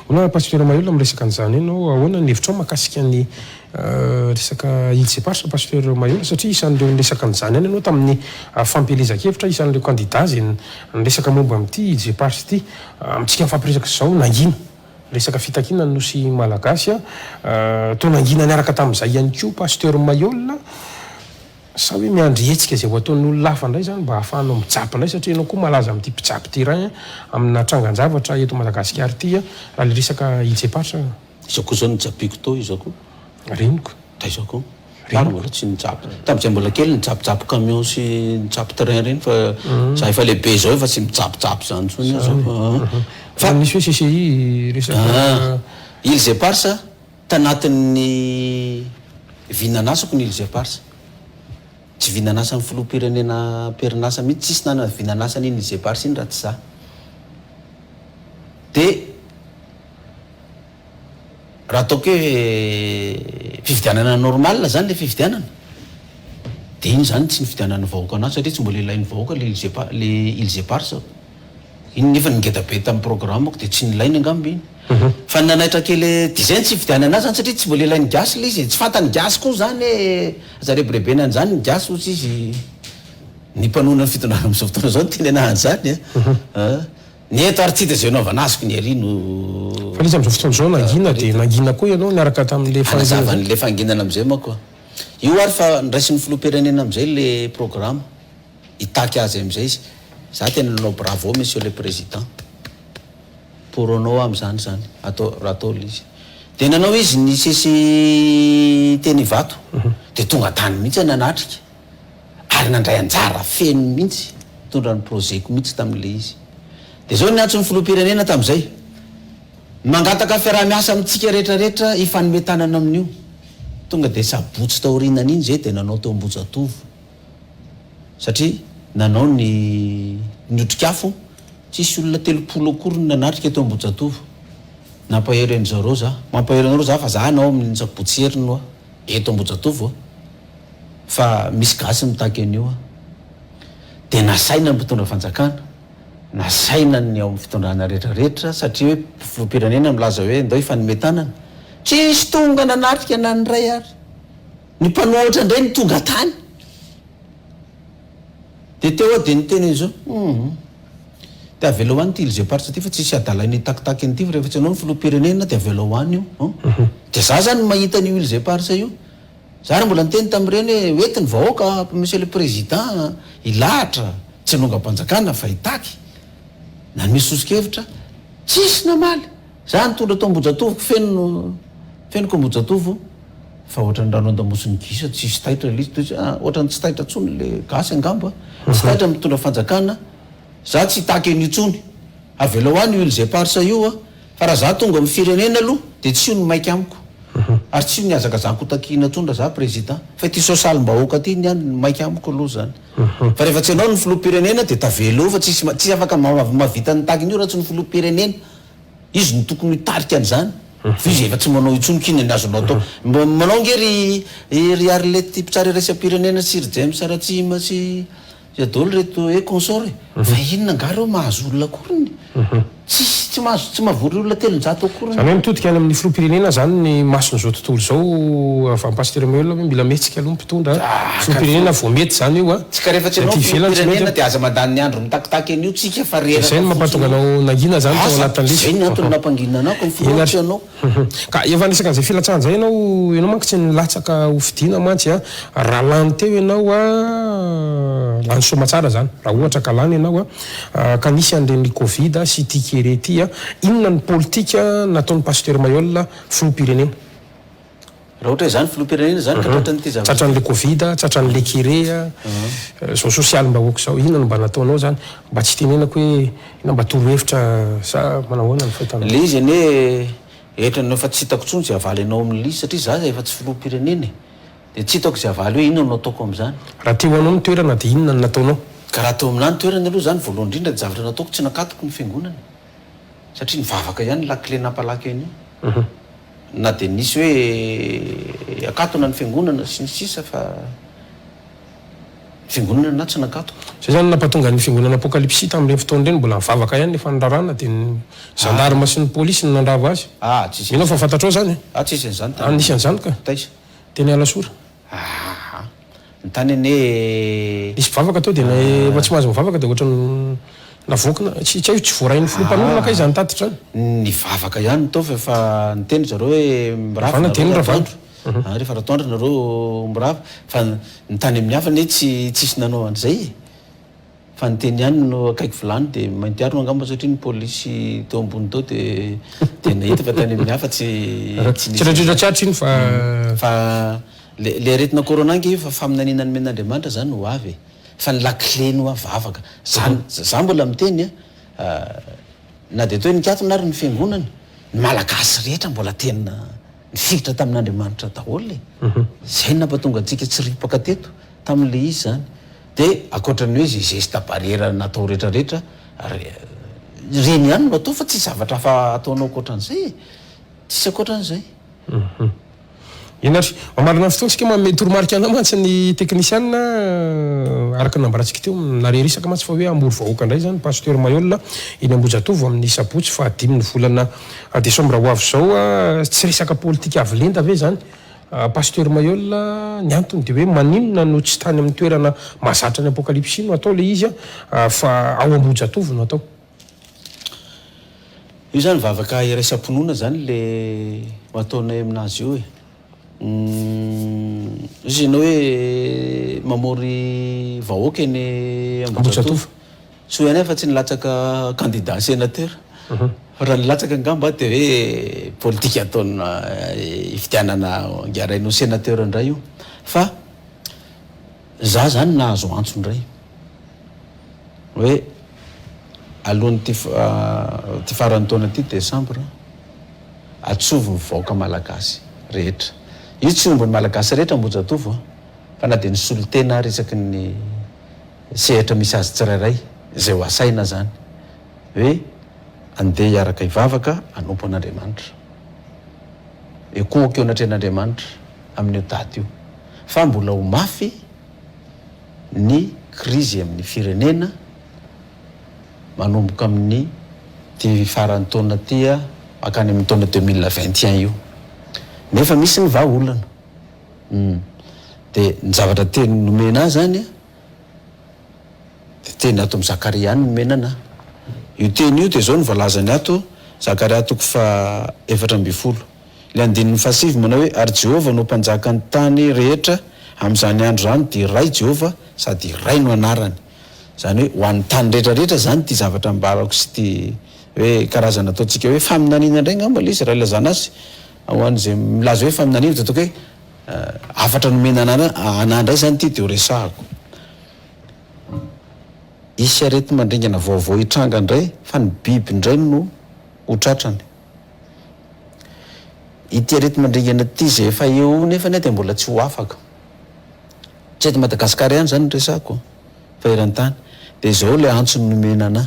Hola Pasitera Mahelola, miresaka an'izany ianao, ahoana ny hevitrao mahakasika ny resaka Îles Éparses Pasteur Mahelola, satria isan'ireo niresaka an'izany ihany ianao tamin'ny fampielezan-kevitra, isan'ireo kandida izay niresaka momba amin'ity Îles Éparses ity. Amintsika mifampiresaka izao, nangina resaka fitakiana ny Nosy Malagasy. Toa nangina niaraka tamin'izay ihany koa Pasteur Mailhol. Sa hoe miandry hetsika izay ho ataon'olona hafa indray izany mba hahafahanao mijapy indray satria ianao koa malaza amin'ity mpijapy terrain amina trangan-javatra eto Madagasikara ity raha ilay resaka Ilzepatra? Izao koa izao no japiako tao izao koa. Reniko, taiza koa? Reniko mbola tsy nijapy. Tamin'izay mbola kely nijapijapy camion sy nijapy train ireny fa za efa lehibe izao efa tsy mijapijapy izany intsony aho izao fa an. Fa misy hoe CCI resaka. Îles Éparses, tanatin'ny vinanasako ny Îles Éparses. Tsy vinanasan'ny filoham-pirenena am-perinasa mihitsy, tsisy nanana vinanasa an'iny Îles Éparses iny raha tsy za. Dia. Raha ataoko hoe fifidianana normal zany le fifidianana de iny zany tsy nifidianan'ny vahoaka anazy satria tsy mbola ilain'ny vahoaka le ils epa- le ils eparses aho. Iny nefa ny ngeda be tamin'ny programme-ko de tsy nilainy angamba iny. Fa ny nanaitra kely de zay ny tsy hifidianana azy zany satria tsy mbola ilain'ny gasy le izy e. Tsy fantan'ny gasy koa zany hoe aza rebirebena an'zany ny gasy ohatry izy ny mpanonona ny fitondrana am'zao fotoana zao no tenenana an'zany a. Ny eto ary tsy hita izay hanaovana azy ko ny ery no. Fa izy amin'izao fotoana izao nangina dia nangina koa ianao niaraka tamin'ilay fangina izay. Hanazava an'ilay fanginana amin'izay manko aho. Io ary fa niraisin'ny filoham-pirenena amin'izay ilay programa. Hitaky azy amin'izay izy. Izaho tena nanao bravo monsieur le président pour anao amin'izany izany atao raha atao ilay izy. Dia nanao izy nisesy teny Ivato dia tonga tany mihitsy nanatrika. ary nandray anjara feno mihitsy, nitondra ny projet-ko mihitsy tamin'ilay izy. Dia izao no niantso ny Filoham-pirenena tamin'izay, Mangataka fiaraha-miasa amintsika rehetrarehetra hifanome tanana amin'io. Tonga dia sabotsy taorinan'iny izay dia nanao teo Ambohijatovo, satria nanao ny ny otrikafo, tsisy olona telopolo akory no nanatrika teo Ambohijatovo. Nampahery an'i zareo za. Mampahery anareo za fa za hanao amin'ny sabotsy heriny hoa, eto Ambohijatovo hoa. fa misy gasy mitaky an'io an! Dia nasaina ny mpitondra fanjakana, nasaina ny ao amin'ny fitondrana rehetra rehetra satria hoe filoham-pirenena milaza hoe ndao hifanome tanana, tsisy tonga nanatrika na ny iray ary ny mpanohatra indray no tonga tany dia teo aho dia niteny hoe zao hum dia avelao any ity ilzem-paritra ity fa tsisy hadalay ny hitakitaky an'ity fa rehefa tsy ianao no filoham-pirenena dia avelao any io an! dia za zany mahita an'io ilzem-paritra io Za ary mbola niteny tamin'ireny hoe hoety ny vahoaka Monsieur le Président hilahatra tsy hanongam-panjakana fa hitaky. Nanome soso-kevitra, tsisy namaly. Za nitondra tao Ambohijatovoko feno fenoko Ambohijatovo fa ohatran'ny rano an-damosin'ny gisa tsisy taitra le izy ah, ohatran'ny tsy taitra tsony le gasy angamba, tsy taitra mitondra fanjakana. Za tsy hitaky an'io tsony. Avelao any io îles éparses io ah, Fa raha za tonga amin'ny firenena aloha dia tsy io ny maika amiko ary tsy io ny hazakazahako hotakihina tsony raha za président fa ity sosalim-bahoaka ity niany ny maika amiko aloha zany fa rehefa tsy ianao ny filoham-pirenena dia tavela eo fa tsisy tsisy afaka mahavita ny takin'io raha tsy ny filoham-pirenena izy no tokony hitarika an'izany fa izy efa tsy manao intsony k'inona ny azonao atao manao nge ry ry Arlette mpitsara iraisam-pirenena sy ry James Ratsihima sy Iza daholo ireto eh consort eh? Fa inona angaha ireo mahazo olona akoriny? Tsisy tsy mahazo tsy mahavory olona telonjato akoriny. Zany hoe mitodika any amin'ny filoham-pirenena zany ny mason'izao tontolo izao Avant Pasteur Maheulona hoe mila mihetsika aloha ny mpitondra filoham-pirenena vao mety zany io an! Tsika rehefa tsy anao filoham-pirenena dia aza mandany ny andro mitakitaky an'io tsika fa reraka fotsiny io. Dia zay no mampatonga anao nangina zany tao anatin'ny lesona. Zay ny antony nampanginana anao ka ny filoha tsy anao. Huhum. Ka efa niresaka an'izay filatsahana izay ianao, ianao manko tsy nilatsaka ho fidiana mantsy a! Raha lany teo ianao a, lany soa aman-tsara izany, raha ohatra ka lany ianao a, ka nisy an'ireny covid sy ity kere ity a, inona ny politika nataon'i Pasteur Mailhol, filoham-pirenena? Raha ohatra izany filoham-pirenena izany ka tratran'ity zavatra. Tratran'ilay covid, tratran'ilay kere, izao sosialim-bahoaka izao, inona no mba nataonao izany? Mba tsy itenenako hoe inona mba toro hevitra sa manao ahoana ny fahitanao? Ilay izy anie hetra anao efa tsy hitako intsony izay havaly anao amin'ilay satria za efa tsy filoham-pirenena e! Dia tsy hitako izay havaly hoe inona no ataoko amin'izany? Raha teo anao ny toerana dia inona no nataonao? Ka raha teo aminà ny toerany aloha izany voalohany indrindra ny zavatra nataoko tsy nakatoko ny fiangonana. satria nivavaka ihany lakile nampalaky an'io na dia nisy hoe akatona ny fiangonana sy ny sisa fa ny fiangonana na tsy nakatona. Izay izany no nampatonga ny fiangonana apokalipsy tamin'ireny fotoana ireny mbola nivavaka ihany nefa ny raràna dia ny zandarma sy ny polisy no nandrava azy. Mino aho fa fantatrao izany e? Anisan'izany ka. Teny Alasora. Ahaha. Ny tany anie e. Nisy mpivavaka teo dia na efa tsy mahazo mivavaka dia ohatrany navoakina. Tsy tsy haiko tsy voarain'ny filoha mpanorina kay izany tatitra izany. Nivavaka ihany ny taovy fa niteny ry zareo hoe mirava Ravana dia ny nareo Ravana. atoandro. An, rehefa ratoandro nareo mirava. Fa ny tany amin'ny hafa anie tsy tsisy nanao an'izay e. Fa ny teny ihany no akaiky vilany dia mainty arona angamba satria ny polisy teo ambony teo dia dia nahita fa tany amin'ny hafa tsy tsy nisy Tsindraindrindra tsy hatry iny fa Fa le le aretina corona ange io fa faminaniana nomen'Andriamanitra zany ho avy e! Fa ny lakile ny ho avy vavaka zany za mbola miteny a na dia atao hoe nikatona ary ny fiangonana ny malagasy rehetra mbola tena Nifikitra tamin'Andriamanitra daholo e! Zay nampatonga antsika tsy ripaka teto tamin'le izy zany. De akoatran'ny hoe ze geste barrière natao retraretra, reny ihany no atao fa tsy zavatra hafa ataonao akoatran'izay e! Tsisy akoatran'izay. Eny ary, mamarana ny fotoantsika moa mety toromarika anao mantsy ny teknisiana araka ny nambarantsika teo. Narery isaka mantsy fa hoe hamory vahoaka indray izany Pasteur Maihol eny Ambohijatovo amin'ny sabotsy faha dimy ny volana A desambra ho avy izao a, tsy resaka politika avo lenta ve izany a Pasteur Mailhol a? Ny antony dia hoe maninona no tsy tany amin'ny toerana mahazatra ny apokalypsy no atao ilay izy a fa ao Ambohijatovo no atao? Io izany vavaka iraisam-pinoana izany ilay ataonay amin'azy io e. Izy ianao hoe mamory vahoaka eny Ambohijatovo? Soa ihany afa tsy nilatsaka candidat sénateur. Raha nilatsaka angamba dia hoe politika ataona hifidianana ngaraina ho sénateur indray io. Fa za zany nahazo antso indray hoe alohan'ity ity faran'ny taona ity décembre atsovy ny vahoaka malagasy rehetra. Io tsy omby ny malagasy rehetra Ambohijatovo a! Fa na dia ny solontena ary isaky ny sehatra misy azy tsirairay izay ho asaina izany hoe andeha hiaraka hivavaka hanompo an'Andriamanitra, ekoiko eo anatrehan'Andriamanitra amin'io daty io fa mbola ho mafy ny krizy amin'ny firenena manomboka amin'ny ty faran'ny taona ty mankany amin'ny taona deux mille vingt et un io nefa misy ny vahaolana, humm, dia ny zavatra teny nomena ahy izany Dia teny ato amin'i Zakaria ihany ny menana. Io teny io dia izao no voalazany ato, Zakaria toko fahaefatra ambin'ny folo, ilay andininy fahasivy manao hoe, Ary Jehovah no Mpanjaka ny tany rehetra amin'izany andro izany, dia iray Jehovah sady iray no anarany. Izany hoe ho an'ny tany rehetrarehetra izany ity zavatra ambarako sy ity hoe karazana ataontsika hoe faminaniana indray angamba ilay izy raha ilazana azy, ho an'izay milaza hoe faminaniana dia ataoko hoe Hafatra nomena anà anà indray izany ity dia ho resahako. Hisy areti-mandringana vaovao hitranga indray fa ny biby indray no ho tratrany. Ity areti-mandringana ity izay efa eo nefa dia mbola tsy ho afaka. Tsy eto Madagasikara ihany izany no resahako fa eran-tany. Dia izao ilay antso nomena anà.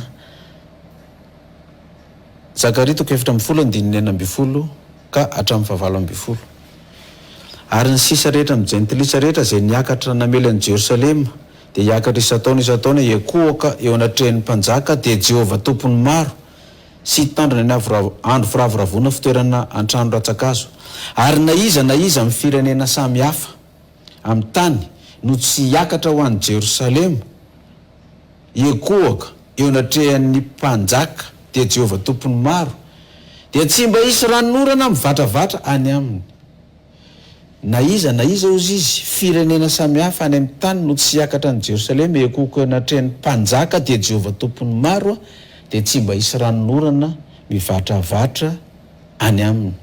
Zakaria toko efatra ambin'ny folo andininy enina ambin'ny folo ka hatramin'ny fahavalo ambin'ny folo. Ary ny sisa rehetra amin'ny jentilisa rehetra izay niakatra namely an'i Jerosalema dia hiakatra isan-taona isan-taona hiankohoka eo anatrehan'ny mpanjaka dia Jehovah Tompon'ny maro sy hitandrina ny andro firavoravoana fitoerana an-trano rantsa-kazo ary na iza na iza amin'ny firenena samy hafa amin'ny tany no tsy hiakatra ho any Jerosalema Ekohoka eo anatrehan' ny mpanjaka, dia Jehovah Tompon' ny maro, dia tsy mba hisy ranon' orana mivatravatra any aminy. Na iza na iza ozy izy, firenena samihafa any amin' ny tany no tsy hiakatra any Jerosalema, ekohoka eo anatrehan' ny mpanjaka, dia Jehovah Tompon' ny maro, dia tsy mba hisy ranon' orana mivatravatra any aminy.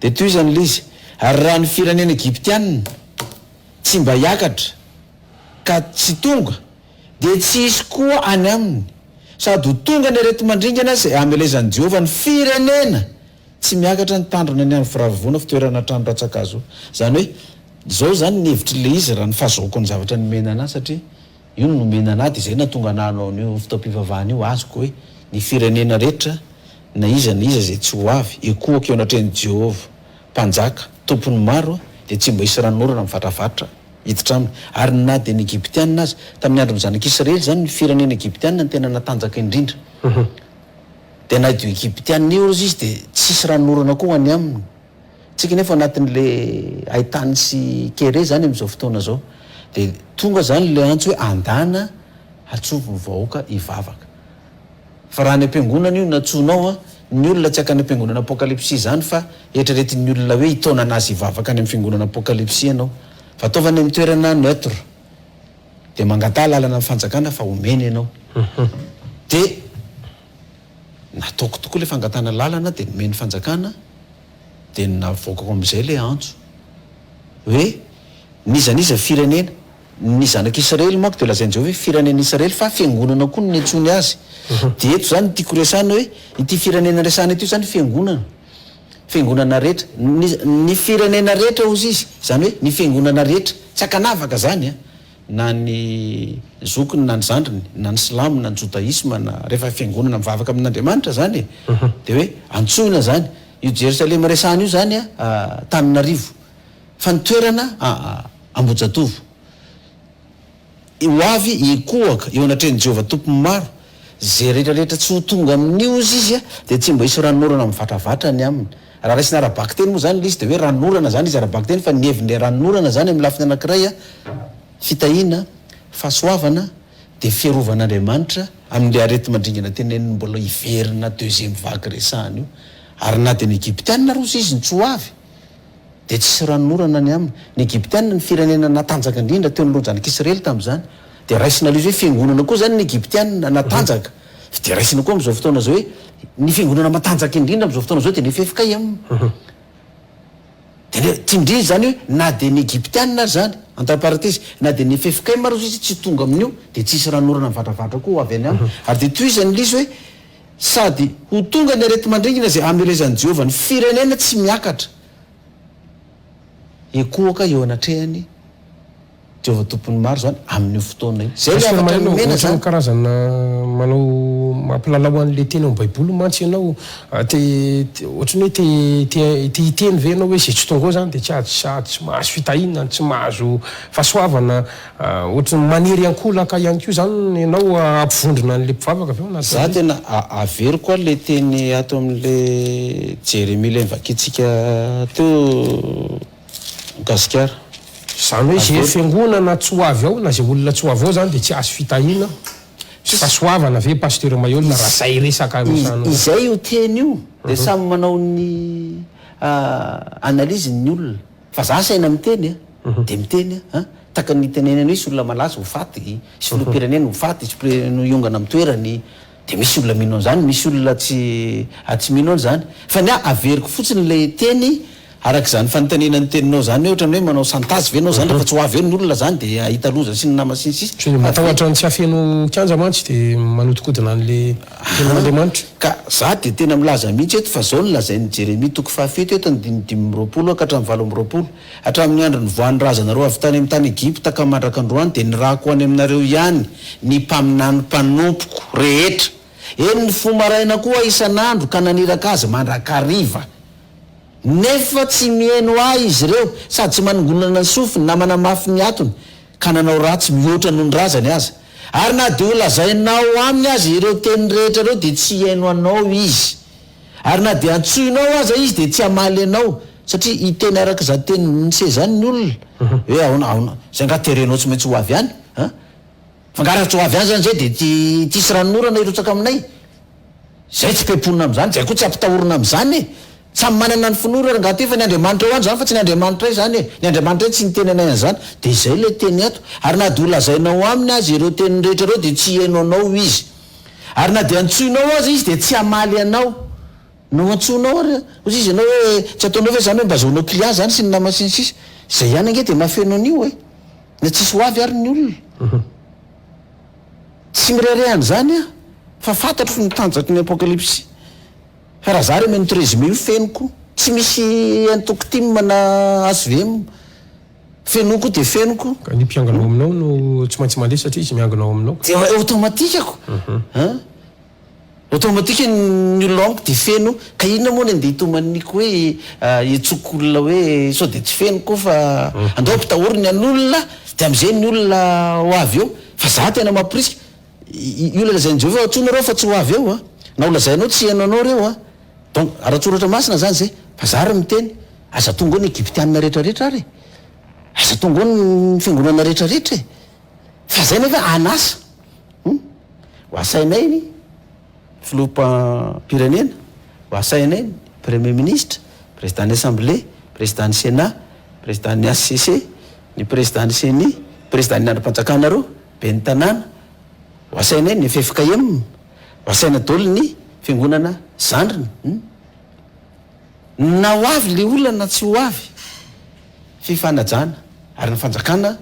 Dia tohizan' ilay izy, Ary raha ny firenena egiptiana tsy mba hiakatra, ka tsy tonga dia tsy hisy koa any aminy, sady ho tonga ny areti-mandringana izay hamelezan'i Jehovah ny firenena tsy miakatra ny tandrony any amin'ny firavoana fitoerana trano rantsankazo. Izany hoe, izao izany ny hevitr'ilay izy raha ny fahazahoako ny zavatra nomena an'ahy, satria io no nomena an'ahy dia izay no nahatonga an'ahy hanao an'io fotoam-pivavahana io, azoko hoe ny firenena rehetra na iza na iza izay tsy ho avy, hikohaka eo anatrehan'i Jehovah mpanjaka, tompon'ny maro, dia tsy mba hisy ranon'orana mivatravatra hiditra aminy. Ary na dia ny Egyptiana aza, tamin'ny andron'ny Zanak'Israely izany, ny firenena Egyptiana no tena natanjaka indrindra. Dia na io Egyptiana io aza izy dia tsy hisy ranon'orana koa ho any aminy. Isika anefa ao anatin'ilay haitany sy kere izany amin'izao fotoana izao. Dia tonga izany ilay antso hoe andana, atsovo ny vahoaka hivavaka. Fa raha any am-piangonana io nantsoinao an, ny olona tsy hankany am-piangonana apokalypsy izany fa eritreretin'ny olona hoe hitaonana azy hivavaka any amin'ny fiangonana apokalypsy ianao. Fa ataovy any amin'ny toerana neutre. Dia mangataha lalana amin'ny fanjakana fa homena ianao. Dia nataoko tokoa ilay fangatahana lalana dia nomen'ny fanjakana dia navoakako amin'izay ilay antso hoe n'iza n'iza firenena Ny zanak'Israely manko dia lazain'i Jehovah hoe firenen'Israely fa fiangonana koa no niantsoany azy. Dia eto izany no tiako resahina hoe ity firenena resahina ity izany fiangonana, fiangonana rehetra. Ny ny firenena rehetra hozy izy, izany hoe ny fiangonana rehetra. Tsy ankanavaka izany an! Na ny zokiny na ny zandriny, na ny silamo na ny jodaisma na, rehefa fiangonana mivavaka amin'Andriamanitra izany e, dia hoe antsoina izany. Io Jerosalema resahina io izany an, Antananarivo, Fa ny toerana a Ambohijatovo. Ho avy hikohaka eo anatrehan'i Jehovah Tompon'ny maro, izay rehetra rehetra tsy ho tonga amin'io, hozy izy a, dia tsy mba hisy ranon'orana mivatravatra ny aminy. Raha raisina ara-bakiteny moa izany ilay izy, dia hoe ranon'orana izany izy ara-bakiteny, fa ny hevin'ilay ranon'orana izany amin'ny lafiny anankiray a fitahiana, fahasoavana, dia fiarovan'Andriamanitra amin'ilay areti-mandringana tenenin'ny mbola hiverina deuxième vague resahana io. Ary na dia ny Egyptiana ary, hozy izy, ny tsy ho avy. dia tsy hisy ranonorana ny aminy. Ny Egyptiana, ny firenena natanjaka indrindra teo anoloan'i Zanak'Israely tamin'izany, dia raisina ilay izy hoe fiangonana koa izany ny Egyptiana natanjaka, fa dia raisina koa amin'izao fotoana izao hoe ny fiangonana matanjaka indrindra amin'izao fotoana izao dia ny ffkm. Dia ny, tindrìny izany hoe na dia ny Egyptiana ary izany, entre parenthèses, na dia ny ffkm ary hozy izy tsy tonga amin'io dia tsy hisy ranonorana mivadravadra koa ho avy any aminy. Ary dia tohizan'ilay izy hoe. Sady ho tonga ny areti-mandringana izay hamelezan'i Jehovah ny firenena tsy miakatra hikohoka eo anatrehan'i Jehovah Tompon'ny maro izany amin'io fotoana io. Izay ilay hafatra nomena izany. Ohatran'ny karazana manao mampilalao an'ilay teny ao amin'ny Baiboly mantsy ianao. Ohatran'ny hoe te te hiteny ve ianao hoe izay tsy tonga ao izany dia tsy azo mahazo fitahiana, tsy mahazo fahasoavana? Ohatran'ny maniry ankolaka ihany koa izany ianao hampivondrona an'ilay mpivavaka avy ao anatinao. Za tena averiko koa le teny ato amin'le Jeremia le nivakiantsika teo Gasikara. Zany hoe ze fiangonana tsy ho avy ao na ze olona tsy ho avy ao zany de tsy azo fitahina sy fasoavana ve Pasteur Maihol raha zay resaka misano. Izay io teny io de samy manao ny analyse ny olona. Fa za saina miteny a, de miteny a, an, taka ny hitenenena misy olona malaza ho faty, hisy filoham-pirenena ho faty, hisy pré no hiongana am toerany, de misy olona mino an'zany, misy olona tsy a tsy mino an'zany, fa ny ahy averiko fotsiny le teny arak'zany fanontanina ny teninao zany hoe otrany hoe manao chantage ve enao zany refa tsy ho avy eo ny olona zany de ahita loza sy ny nama sy ny sisa, Tsy matahotra ny tsy hafeno kianja mantsy de manodikodina an'le. Tenin'Andriamanitra. Ka za dia tena milaza mihitsy eto fa zao no lazain'i Jeremia toko fahafito eto andininy dimy amby roapolo ka hatramin'ny valo amby roapolo, Hatramin'ny andro nivoahan'ny razanareo avy tany amin'ny tany Egypta ka mandraka androany dia nirahako ho any aminareo ihany ny mpaminany mpanompoko rehetra, eny ny fo maraina koa isan'andro ka naniraka azy mandrakariva, nefa tsy mihaino ahy izy ireo, sady tsy manongonana ny sofiny na manamafy ny hatony. ka nanao ratsy mihoatra noho ny razany aza, ary na dia holazainao aminy aza ireo teny rehetra ireo dia tsy hihaino anao izy, ary na dia antsoinao aza izy dia tsy hamaly anao, satria hiteny araka izany teny nisy izany ny olona, hoe aona, aona, izay angaha terenao tsy maintsy ho avy any, an? fa angaha raha tsy ho avy any izany izay dia tsy hisy ranonorana hirotsaka aminay. Zay tsy be mponina amzany, zay koa tsy ampitahorina amzany e! Tsy samy manana ny finoany rangahy aty fa ny Andriamanitra ao any zany fa tsy ny Andriamanitray zany e! Ny Andriamanitray tsy niteny anay anzany, de zay lay teny ato, ary na de ho lazainao aminy aza ireo teniny rehetra ireo de tsy hihaino anao izy, ary na de antsoinao aza izy de tsy hamaly anao, no antsoinao ary ozy izy anao hoe tsy ataonao ve zany hoe mba azahoanao client zany sy ny nama sy ny sisa, zay ihany ange de mahafeno an'io e! Na tsisy ho avy ary ny olona. Tsy mirehareha an'izany aho fa fantatro ny tanjaky ny apokalypsy fa raha za re mino ity résumé io fenoko tsy misy entoko tim na hvm fenoko dia fenoko. Ka ny mpiangona ao aminao no tsy maintsy mandeha satria izy miangona ao aminao. Dia automatique ko an! Automatique ny olona ao amiko dia feno ka inona moa ny andeha hitomaniko hoe hiantsoako olona hoe sao dia tsy feno koa fa andao ampitahory ny an'olona dia amin'izay ny olona ho avy eo fa za tena mamporisika i olona lazain'i Jehovah antsoina ireo fa tsy ho avy eo an! na ho lazainao tsy heno anao ireo an! donc ara-tsoratra masina izany izay fa za ary miteny aza tonga ao ny Egyptiana rehetra rehetra ary e! aza tonga ao ny fiangonana rehetra rehetra e! fa izay nefa an'asa. Hum? Ho asainay ny Filoham-pirenena, ho asainay ny Premier Ministre, Président ny Assemblée, Président ny Sénat, Président ny HCC, ny Président ny Ceni, Président ny andrim-panjakana roa, Ben'ny Tanàna, ho asainay ny ffkm, ho asaina daholo ny Fiangonana zandriny. Hum? Na ho avy le olona na tsy ho avy fifanajana ary ny fanjakana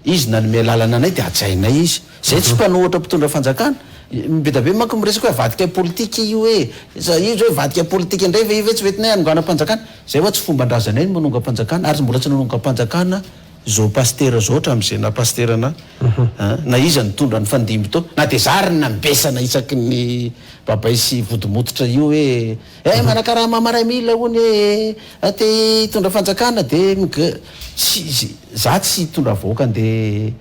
izy nanome lalana anay de hajainay izy zay tsy mpanohatra mpitondra fanjakana bedabe manko miresaka hoe avadika politika io hoe iza io zao hoe vadika politika ndray ve io ve tsy hoetinay hanongana mpanjakana zay hoa tsy fomba ndrazanay ny manonga mpanjakana ary mbola tsy nanonga mpanjakana zao pasitera zao hatramzay na pasitera na na iza nitondra nifandimby tao na de za ary nambesana isaky ny babay sy vody mototra io hoe Eh manakarama marais mille hono eh eh te hitondra fanjakana de mg tsy za tsy hitondra vahoaka ande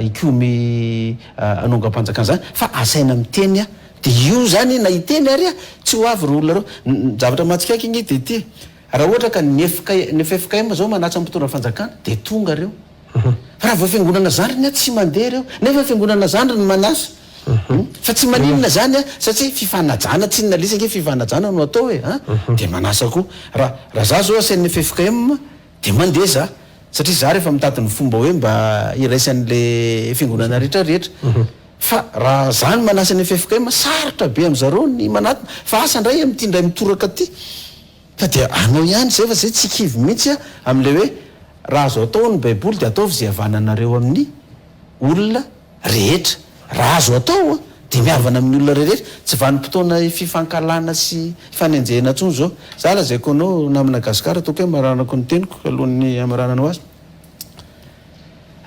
hikomy anongampanjakana za fa asaina miteny a de io zany na hiteny ary a tsy ho avy reo olona reo ny zavatra mahatsikaiky anie de ty raha ohatra ka ny ffkm zao manatsa ny mpitondra fanjakana de tonga reo Raha vao fiangonana zandriny an tsy mandeha ireo nefa fiangonana zandriny manasa an fa tsy maninona zany an satsia fifanajana tsy nalisa ange fifanajana no atao e an dia manasa koa raha raha za zao asain'ny ffkm dia mandeha za satria za rehefa mitady ny fomba hoe mba hiraisan'le fiangonana rehetra rehetra fa raha za no manasa ny ffkm sarotra be amzareo ny manatona fa asa ndray amty ndray mitoraka aty Fa dia anao ihany izay fa izay tsy kivy mihitsy aho amin'ilay hoe raha azo atao ao ny baiboly dia ataovy izay havananareo amin'ny olona rehetra. Raha azo atao dia mihavana amin'ny olona rehetra. Tsy vanim-potoana fifankahalana sy hifanenjehina intsony izao. Za lazaiko anao namana gasikara toa ko hoe maranako ny teniko alohan'ny hamarananao azy.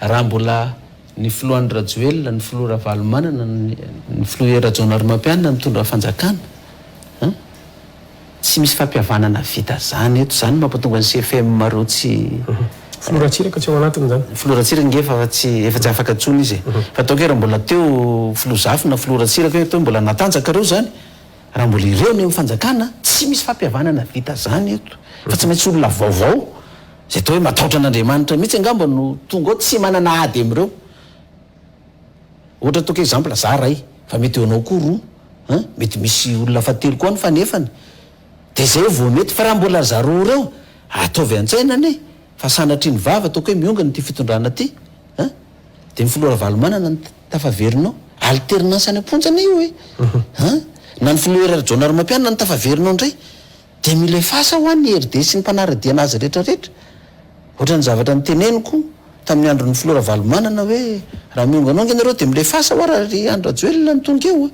Raha mbola ny filoha Andry Rajoelina, ny filoha Ravalomanana, ny filoha Hery Rajaonarimampianina mitondra fanjakana an! Tsy misy fampihavanana vita zany eto, zany mampatonga ny CFM reo tsy. Filoha Ratsiraka tsy ao anatiny izany? Filoha Ratsiraka nge efa tsy efa tsy afaka intsony izy e! Fa ataoko hoe raha mbola teo filoha Zafy na filoha Ratsiraka hoe teo mbola natanjaka reo zany? Raha mbola ireo ny amin'ny fanjakana, tsy misy fampihavanana vita zany eto fa tsy maintsy olona vaovao zay atao hoe mataotra an'Andriamanitra mihitsy angamba no tonga ao tsy manana ady amin'ireo ohatra ataoko exemple za ray fa mety eo anao koa roa an, mety misy olona fahatelo koa any fa nefany de zay vao mety fa raha mbola za roa ireo ataovy antsaina anie fa sanatria ny vava ataoko hoe miongana ity fitondrana ty an, de ny filoha Ravalomanana no. Tafaverina ao. Alternance any am-ponja anie io e! An! Na ny filoha Hery Rajaonarimampianina no tafaverina ao indray dia mila efface hoa ny hery dia sy ny mpanara-dia an'azy rehetra rehetra. Ohatran'ny zavatra noteneniko tamin'ny andron'ny filoha Ravalomanana hoe raha mihonganonga ianareo dia mila efface hoa raha ry Andry Rajoelina no tonga eo.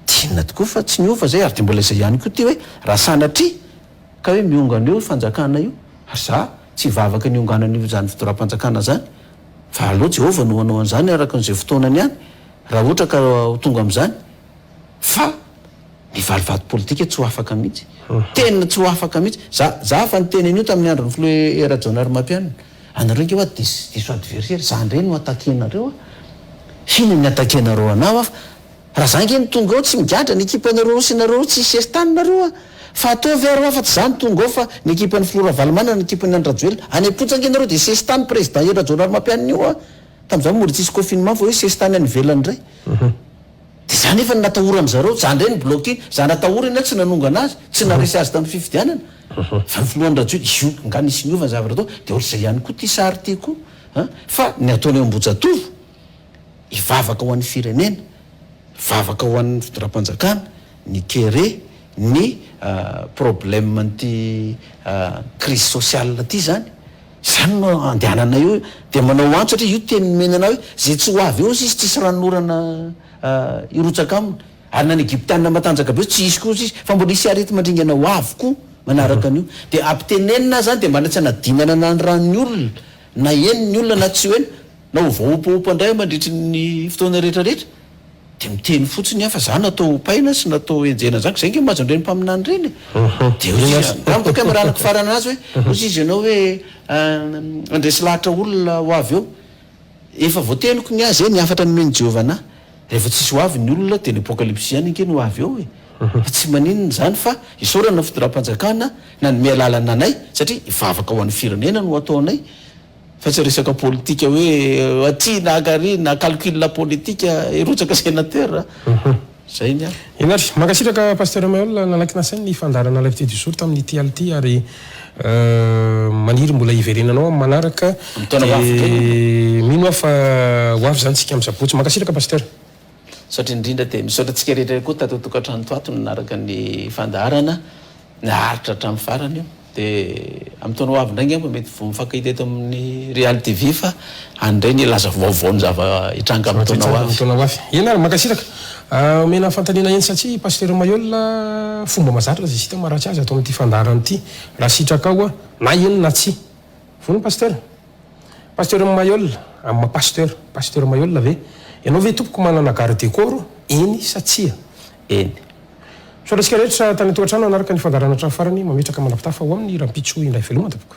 Tinona tokoa fa tsy niova izay ary dia mbola izay ihany koa ity hoe raha sanatria ka hoe mihongana eo io fanjakana io ary za tsy hivavaka ny hionganan'io izany fidoram-panjakana izany Fa aleo Jehovah no hanao an'izany araka an'izay fotoanany ihany, raha ohatra ka ho tonga amin'izany. Fa ny valivato politika tsy ho afaka mihitsy. Tena tsy ho afaka mihitsy. Za, za efa niteny an'io tamin'ny andron'ny filoha E Rajaonarimampianina. Anareo ange hoa diso, diso adversaire, za indray no attaquer-nareo a! Inona ny attaquer-nareo anah hoa Raha za nge no tonga ao tsy migadra ny ekipanareo roa sy nareo tsy sertany nareo a! Fa ataovy ary ho afatsy za no tonga ao fa ny ekipan'ny filoha Ravalomanana ny ekipan'i Andry Rajoelina any am-ponja nge nareo dia sesitany président Hery Rajaonarimampianina io a! Tamin'izany mbola tsisy confinement fa hoe sesitany any ivelany indray dia za nefa no natahoran'ny zareo za indray no block iny za natahorany aho tsy nanongana azy tsy naharesy azy tamin'ny fifidianana fa ny filohan'ny Rajoelina izy io angaha nisy niova ny zavatra tao dia ohatr'izay ihany koa ity sary ity koa an! fa ny ataony ao Ambohijatovo hivavaka ho an'ny firenena, hivavaka ho an'ny fitondram-panjakana, ny kere, ny probleman'ity crise sociale ity izany, izany no andehananay eo, dia manao antso satria io teny nomena anao hoe izay tsy ho avy eo hozy izy tsisy ranon'orana hirotsaka aminy, ary na ny Egyptiana matanjaka be hozy tsy hisy koa hozy izy, fa mbola hisy areti-mandringana ho avy koa manaraka an'io, dia ampitenenina azy izany dia mba tsy hanadinana na ny ran'ny olona na heno ny olona na tsy ho heno, Na ho voaopaopa indray mandritry ny fotoana rehetra rehetra dia miteny fotsiny aho fa za natao hopaina sy natao henjehina zany ka zay nge mahazo ireny mpaminany ireny e! dia hoy izy angamba kay mba raha nikofarana anazy hoe hoy izy ianao hoe handresy lahatra olona ho avy eo efa voateniko ny ahy zay ny hafatra nomen'i Jehovah anahy rehefa tsisy ho avy ny olona dia ny apokalypsy ihany ange no ho avy eo e! fa tsy maninona izany fa isaorana ny fitondram-panjakana nanome alalana anay satria hivavaka ho an'ny firenena no ataonay Fa tsy resaka politika hoe aty na akary na calcul politika hirotsaka sénateur a! Zay ny ahy. Ianary. Mankasitraka Pasteur Maihol nanaiky nasainy ny fandaharana live ity du jour tamin'ny ity alina ity ary maniry mbola hiverenanao amin'ny manaraka dia mino aho fa ho avy izany tsika amin'ny sabotsy. Mankasitraka Pasteur. Misaotra indrindra dia misaotra antsika rehetra ihany koa tato an-tokantrano tato nanaraka ny fandaharana. Naharitra hatramin'ny farany io. Dia amin'ny taona ho avy indray angamba mety vao mifankahita eto amin'ny Real TV fa any indray ny laza vaovao ny zava-hitranga amin'ny taona ho avy. Amin'ny taona ho avy. Eny ary, mankasitraka. Omena fanontaniana eny satsia i Pasitera Mailhol fomba mahazatra zisita maharatsy azy ato amin'ity fandaharana ity. Raha sitrakao na eny na tsia. Vono Pasteur? Pasteur Maiola, am Pasteur, Pasteur Maiola ve? Ianao ve tompoko manana garde corps? Eny sa tsia? Eny. Misaotra antsika rehetra tany an-tokantrano nanaraka ny fandaharana hatramin'ny farany, mametraka manapitafa ho amin'ny rahampitso indray veloma tompoko.